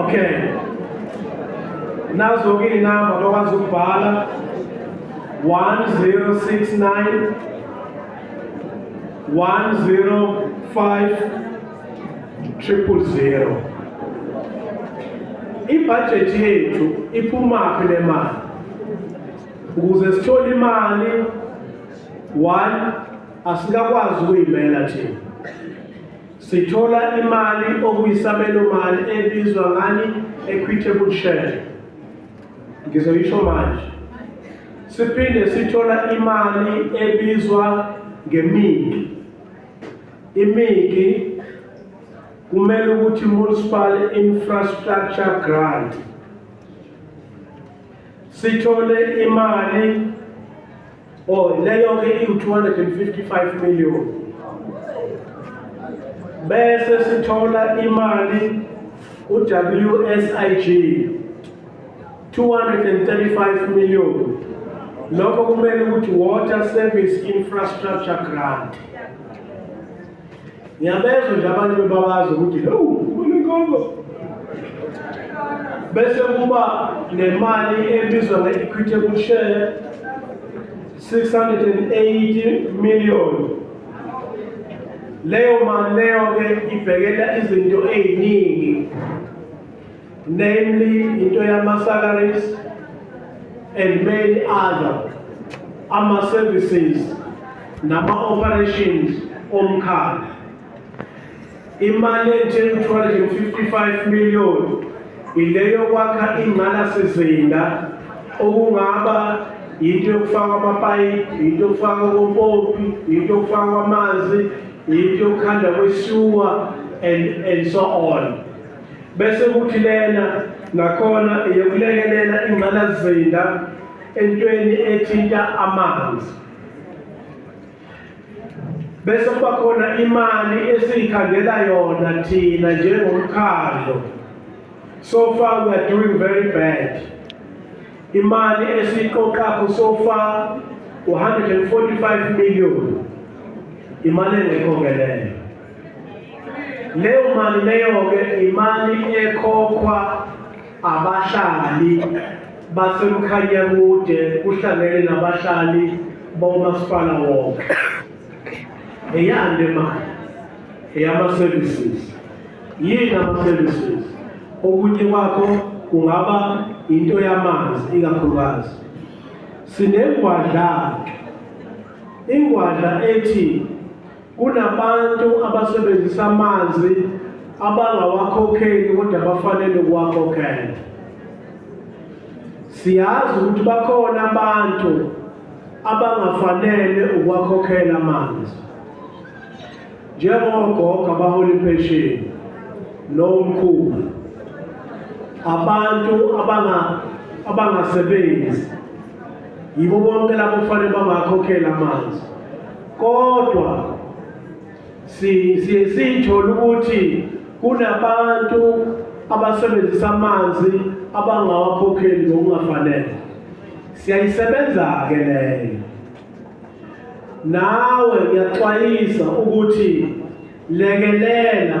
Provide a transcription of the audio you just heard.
Okay. Nazo-ke iy'namba bakwazi ukubhala 1069 105 triple zero. Ibhajethi yethu iphumaphi le mali? Ukuze sithole imali one asikakwazi ukuyimela thina Sithola imali okuyisabelomali ebizwa ngani equitable share. Ngizoyisho manje. Siphinde sithola imali ebizwa ngemiki. Imiki kumele ukuthi municipal infrastructure grant. Sithole imali Oh, leyo ke iwu-255 million. Bese sithola imali ku-WSIG 235 million. Lokho kumele ukuthi Water Service Infrastructure Grant. Ngiyabezwa nje abantu bebabazi ukuthi hewu kuninkongo bese kuba nemali ebizwa nge-equitable share 680 million leyo mali leyo-ke ibhekela izinto ey'ningi namely into yama-salaries and many other ama-services nama-operations omkhakha imali enjengo-255 million ileyo kwakha ingqalasizinda okungaba yinto yokufaka amapayipi yinto yokufaka kompopi yinto yokufaka amanzi yinto yokukhanda kwesiwa and, and so on bese kuthi lena nakhona eyokulekelela ingqalasizinda entweni ethinta amanzi bese kuba khona imali esiyikhandela yona thina njengomkhandlo so far we are doing very bad imali esiyiqoqapho so far 145 million imali engekho ngeleyo leyo mali leyo-ke imali ekhokhwa abahlali basemkhanya kude kuhlangene nabahlali bomasipala wonke eyani le mali eyama-services yini ama-services okunye kwakho kungaba into yamanzi ikakhulukazi sinengwadla ingwadla ethi Kunabantu abasebenzisa amanzi abangawakhokheli kodwa bafanele ukuwakhokhela. Siyazi ukuthi bakhona abantu abangafanele ukwakhokhela amanzi njengogogo abahola impesheni nomkhulu abantu abanga abangasebenzi yibo bonke labo kufanele bangakhokhela amanzi kodwa siye siyithole ukuthi kunabantu abasebenzisa amanzi abangawakhokheli ngokungafanele siyayisebenza-ke leyo nawe ngiyaxwayisa ukuthi lekelela